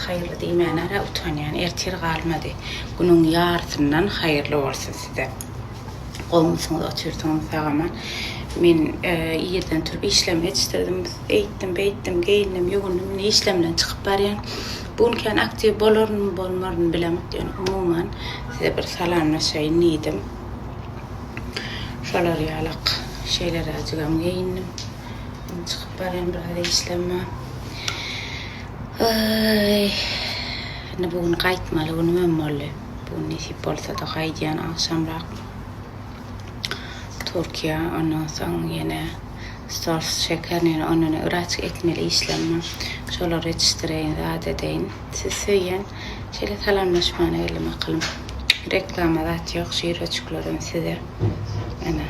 Haýyrly diýmäne-hä utanýan, ertir galmady. Günüň ýarysyndan haýyrly bolsun size. Gowmysyňyz otyrsyňyz sagaman. Men irden turup işlemi ýetişdirdim. Eýtdim, beýtdim, geýindim, ýuwundym. Indi işlem bilen çykyp barýan. Bu gün kän aktiw bolaryn, bolmaryn bilemok. Ýöne umuman size bir salamlaşaýyn diýdim. Şolar ýalak şeýleräjigem geýindim. Indi çykyp barýan biraz işlem bar. Indi bu gün gaýtmaly günümem boldy. Bu nesip bolsada gaýdýan agşamrak Türkiýä ondan soň ýene Stolz şekerini ýene ondan yraç etmeli işlem bar. Şolary ýetişdireýin zat edeýin. Siz söýýän şeýle salamlaşmany ýerli makalym. Reklama zat ýok şireçiklerden size. Ene.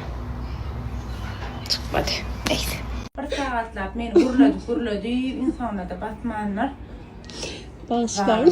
Çykmady. Neýse. Bir sagatlap meni gürledip gürledi, ýnsonada batmandyr. Bagyşlaň.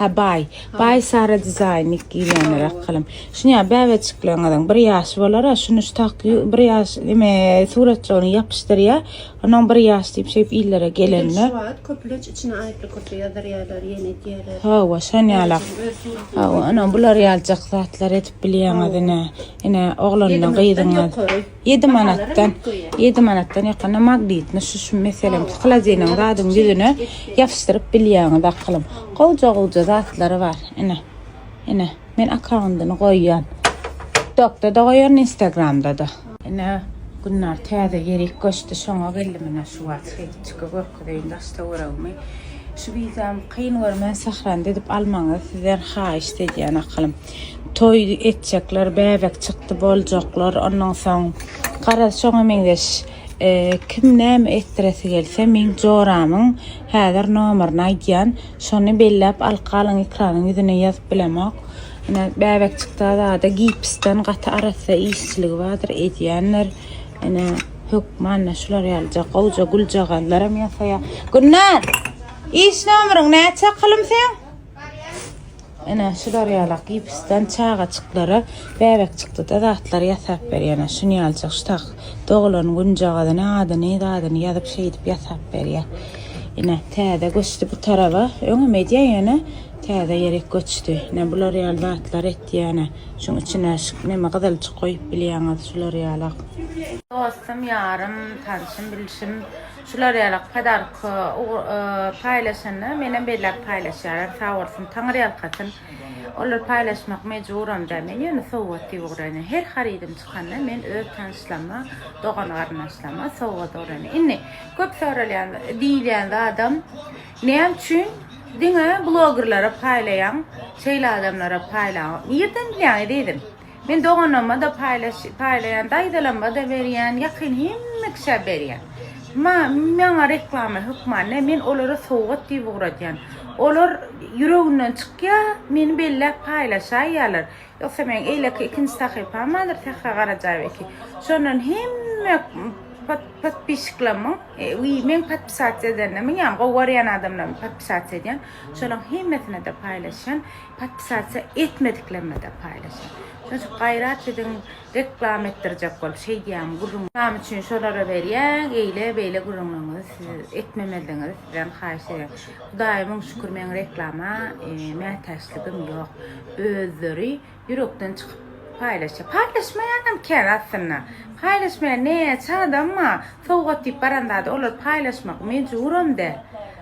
Hä baý. Baý Sara dizaýny giýýänräk halam. Şuny ýa bäbeçikleňiziň bir ýaşy bolar-a, şuny şu tak bir ýaş eme suratjygyny ýapyşdyrýa, onuň bir ýaş diýip şeýip illere gelende. Şu wagt köplenç içine aýtly köpe ýazarýarlar, ýene diýerler. Hawa, şon ýala. Hawa, ene bular ýaljak zatlar edip bilýäňiz ine. Ine oglandan gyzyňa. Ýedi manatdan, ýedi manatdan ýakynda magnitni şu şu meselem hlodilniň zadyň ýüzüne ýapyşdyryp bilýäňiz akylym. Gowja-gowja zatlary bar. Ine. Ine, men akkaundyny goýýan. TikTokda-da goýaryn, Instagramda-da. Ine, Günnar täze ýerik göçdi, şoňa geldim ine şu wagt. Şeýtçiki görkezeýin daş-töweregimi. Şu wizam kyn görmän, Sährany didip almagyňyzy sizden haýyşt edýän akylym. Toý etjekler, bäbek çykdy boljaklar, ondan soň garaz şoňa meňzeş kim näme etdiresi gelse meň joramyň häzir nomerini aýdýan, şony belläp alkalyň ekranyň ýüzüne ýazyp bilemok. Ine bäbek çykdy azada gipsden gaty arassa işçiligi bardyr edýändir. Ine hökmanda şular ýalyja gowja güljagazlaram ýasaýar. Gülnar! Iş nomeryň näçe kylym seň? Ene şu darýalak gipsden çagajyklara bäbekçikde-de zatlar ýasap berýär. Şuny ýaljak, şu tak doglan günjagazyny, adyny, zadyny ýazyp şeýdip ýasap berýär. Ene täze göçdi bu taraba. Öňem edýär ýöne täze ýerik göçdi. Ene bular ýaly zatlar etýär ene. Şuň içine neme gyzylçyk goýup bilýäňiz şular ýalak. Dostum, ýarym, tanşym, bilşim. Şular ýaly podark paýlaşanda menem belläp paýlaşýarlar sagbolsun taňyrýalkasyn olar paýlaşmak mejburam däl men ýöne sowgat diýip ugraýyn her harydym çykanda men öz tanyşlaryma dogan garyndaşlaryma sowgat ugraýyn indi köp soralýan diýilýän zadam näme üçin diňe blogerlere paýlaýaň şeýle adamlara paýlaň nirden bilýäň ezizim Men doganlarma-da paýlaş paýlaýan, daýzalarma-da berýän, ýakyn hemme kişä berýän. Ma maňa reklama hökman ne, men olara sowgat diýip ugradýan. Olar ýüreginden çykýa, meni belläp paýlaşaýýalar. Ýogsa meň eýleki ikinji sahypam bardyr, Sähra Garajaýewa eki. Şondan hemme pod podpişiklermiň, wi meň podpisasiýa edenlermiň, ýagny gowy görýän adamlarymy podpisasiýa edýän. Şolaň hemmesine-de paýlaşýan. Podpisasiýa etmediklerine-de paýlaşyň. Şunça gaýrat edin, reklama etdirjek bolup şeýdýäň, gürrüň. Name üçin şolara berýäň, eýle, beýle gürrüňleriňizi siz etmemezligiňizi sizden haýyş edýän. Hudaýa müň şükür meň reklama mätäçligim ýok. Özleri ýürekden çykyp paýlaşýar. Paýlaşmaýanam kän aslynda. Paýlaşmaýan näçe adam bar. Sowgat diýip baran zady olar paýlaşmak mejburam däl.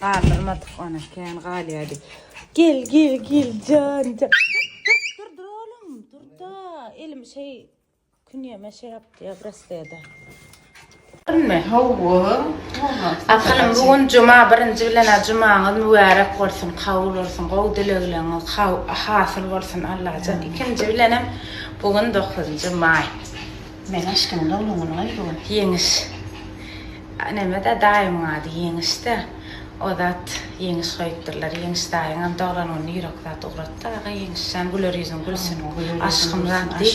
Galdyrmadyk ony, kän galýardy. Gel, gel, gel, jan, jan. Dur, dur, dur, oğlum, dur da. Elim şey, künyeme şey yaptı ya, brasleda. Bilme, hawa. Akylym, bu gün cuma, birinci bilen cumaňyz mübärek bolsun, kabul bolsun, gowy dilegleriňiz hasyl bolsun Allajan. Ikinji bilenem, bu gün dokuzynjy maý. Meň aşkymyň doglan güni-oý bu gün. Ýeňiş. Neme-dä, daýymyň ady Ýeňiş-dä. O zat Ýeňiş goýupdyrlar. Ýeňiş daýyňam doglan gününe ýürek zat ugratdy, aga Ýeňiş jan, güler ýüzüň gülsün, aşkym zat diý.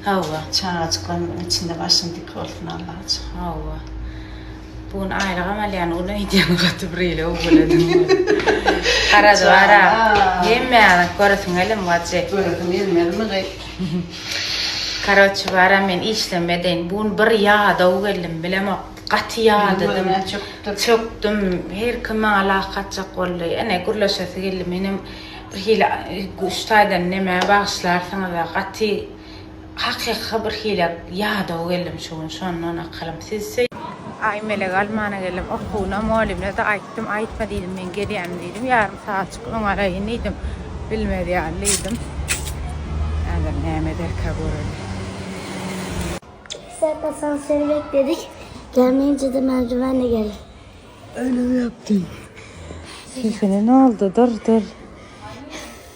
Hawa. Çagajyklaryň içinde başyň dik bolsun, Allaja. Hawa. Bu gün aýlygam alýan gün aýdýan gaty bir ele owaladym. Garaz bara. Hemmäňizi göresiň gelim gaty. Göresiň gelmezmi gaý. Karoçi bara men işlem edeýin. Bu gün bir ýadaw geldim bilemok. Gaty ýadadym. Çökdüm. Her kim maňa lak atjak boldy. Ene gürleşesi geldi. Menem bir hili üç taýdan neme bagyşlarsyňyza gaty Hakyka bir hile ýadaw geldim şu gün şondan akylym sizse. Aý mele galmana geldim okuwyna mugallymnada aýtdym aýtma diýdim men gelýänim diýdim ýarym sagatjyk öň alaýyn diýdim bilmez ýaly diýdim häzir näme ederkä göreli. Iki saat asansöri bekledik gelmeýinjede merdiwenle geldik öýlem ýokdy. Sesine noldu dyr dyr.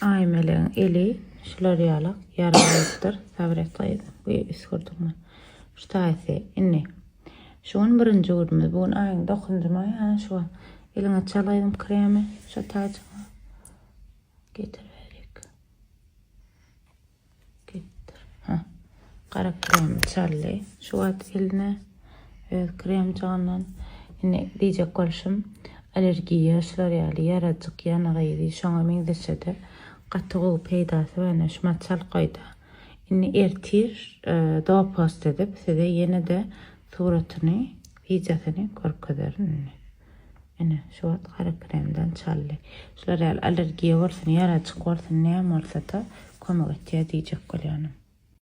Aýmelegiň eli şular ýala ýara bolupdyr, Sabret gyz, bu üsgürdiňmi? Şu taýsy, indi. Şu gün birinji günümiz. Bu gün aýyň dokuzunjymy? Hä, şuwal. Eliňe çal gyzym kremi, şo taýjyňy. Getir berik. Gitdir. Hä. Gara krem çaldy şu wagt eline öz kremjigyndan. Indi diýjek bolşum, allergiýa şular ýaly ýarajyk ýanygy ýedi, şoňa meňzeşe-de gaty gowy peýdasy bar, ine, şuma çal goý-da. Indi ertir dopost edip size ýene-de suratyny, wideosyny görkezerin indi. Ine, şu wagt gara kremden çaldy. Şular ýaly allergiýa bolsun, ýarajyk bolsun, näme bolsa-da kömek etýär diýjek bolýanam.